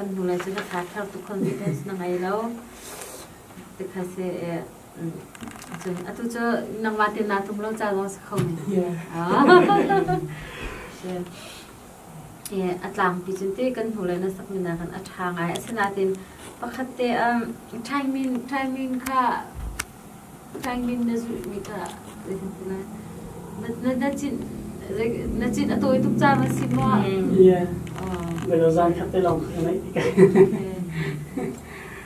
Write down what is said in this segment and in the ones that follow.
kan hnulei cu ka tha thar tu khon ding na ngai lo te kha se e Cun atu cu nangmah te naa tlung lo ca zong si kho a tlangpi cun ti kan hnu le na sak mina kan a ṭha ngai asinain pakhat te ṭhaingmin ṭhaingmin kha ṭhaingmin na zulhmi kha zeitintilah na na cin na cin a tawi tuk caan a si maw? Ie. Na zan khat te lawng kha na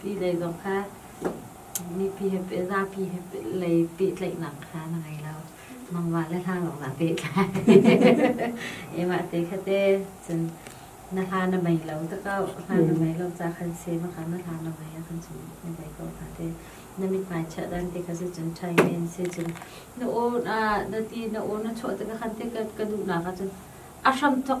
ti dei zong kha mipi he zapi he lei pehtlaihnak kha na ngei lo mangwa le hla lawng na pehtlai emah te khate cun na hla na mei lo ta kau hla na mei lo ca khan se ma kan na hla na mei kan cun na bei ko hna te na mit mai cha dan te kha se cun thai men se cun na o na na ti na o na chuah te ka khan te ka ka du na ka cun a hram thok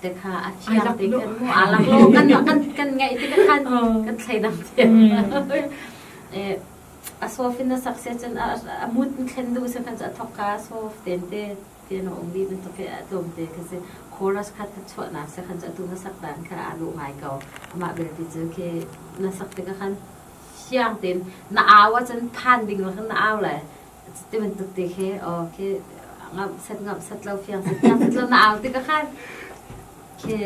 te kha a thiam te kan mu a lang lo kan kan kan ngai te ka khan kan thlai dang te eh a sof in na sakse chan a mut thlen du se khan a thok ka sof ten te te no ong di na to ke a tom te ka se chorus khat ta chwa na se khan tu na sak dan kha a lu ngai ko ama bel ti chu ke na sak te ka khan siang tin na awa chan than ding la na aw la Ti bantuk te khi, aw, khi ngamhset ngamhset lo, fiang set fiang set lo na au ti ka khan. Khi,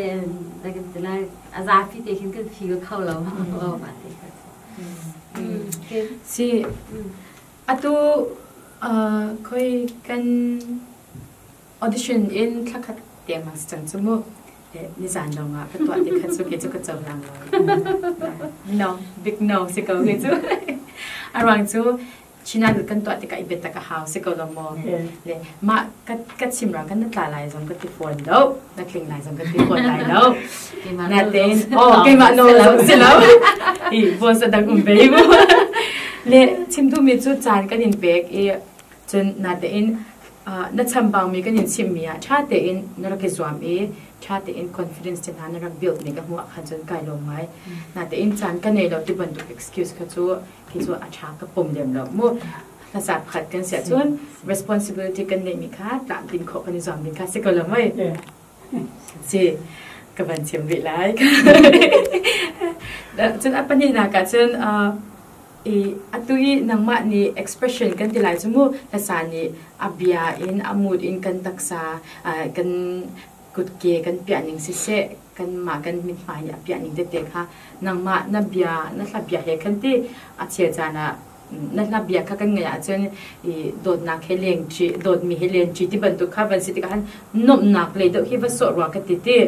da kan ti lai, a zapi te khin kan phi ka kho lo, o ma te kha. Si, atu khoi kan audition in thlakhat te ma sang chu mu nizan dong ah ka tua te khat chu ke chu ka cho lang lo no big no si ko ke chu arang chu Chinagel kan tuah tikah i biatak a hau si ko lo maw? Le mah ka, ka chimra kan na tla lai zong ka ti fawn lo, na tling lai zong ka ti fawn lai lo. Na tein, oh, keimah no lo si lo. I voice a dang um ve mu. Le chimdumi cu caan kan in pek i cun na tein na chambangmi kan in simmi ah ṭha tein na rak i zuam i ṭha tein confidence te hna na rak build nih ka hmuh ah khan cun kai lawm ngai. Na tein caan ka nei lo ti bantuk excuse kha cu khi cu a ṭha ka pom lem lo mu hmasa pakhat kan siah cun responsibility kan neihmi kha tlamtlin khawh kan i zuam ding kha si ko lo mei si ka van cim rih lai cun a pahnihnak ah cun i atu i nangmah nih expression kan ti lai cu mu hlasa nih a bia in a mood in kan taksa kan kutke kan piahning siseh, kanmah kan mithmai nih a piahning tete kha nangmah na bia, na hlabia he khan ti a chia caan ah na hlabia kha kan ngaih ahcun i dawtnak he lengṭi, dawtmi he lenṭi ti bantuk kha van si tikah khan nuamhnak lei deuh hi va sawh rua ka ti ti.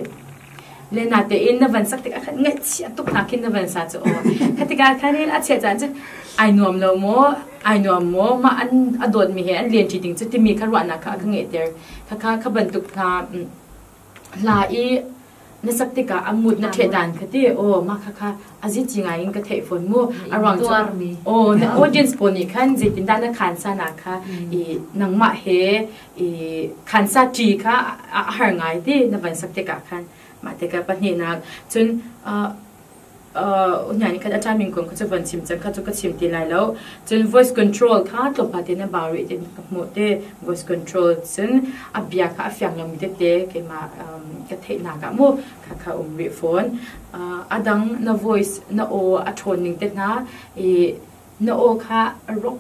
Le na tein na van sak tikah khan ngaihchia tuk hna khin na van sa cu aw. Kha tikah khan i a chia caan cu ai nuam lo maw, ai nuam maw, mah an a dawtmi he an lenṭi ding cu timi kha ruahnak kha a ka ngeihter. khakha kha bantuk hna hla i na sak tikah a ngut na ṭhehdan kha ti aw mah khakha a zici ngai in ka theih fawn mu a ruang cu aw na audience pawl nih khan zeitindah na khansa na kha i nangmah he i khansa ṭi kha a har ngai ti na van sak tikah khan mah tikah pahnihnak cun hna nih khan a timing kong kha cu van chim cang kha cu ka chim ti lai lo cun voice control kha tlawmpa tein a bau rih ti ka hmuh ti voice control cun a bia kha a fiang lomi tete keimah ka theihnak ah mu khakha um rih fawn a dang na voice na aw a ṭhawn ning te hna i na aw kha rock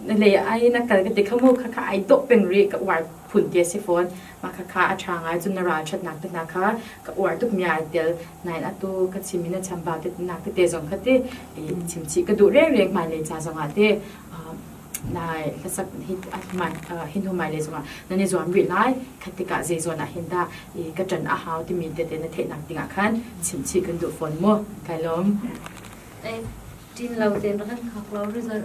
le ai na kal ka ti kha mu kha kha ai dawh peng ri ka uar phun ti a si fawn mah kha kha a ṭha ngai cun na ralṭhatnak te hna kha ka uar tuk mi ai tel nain atu ka chim in a chambau te nak te zong kha ti i chimchih ka duh rengreng hmai le ca zong ah te nai hlasak hi hman hin humai le zongah nan i zuam rih lai kha tikah zei zawn ah hin dah i ka ṭan a hau timi tete na theihnak dingah khan chimchih kan duh fawn mu kai lawm tin lo ten ran khak lo result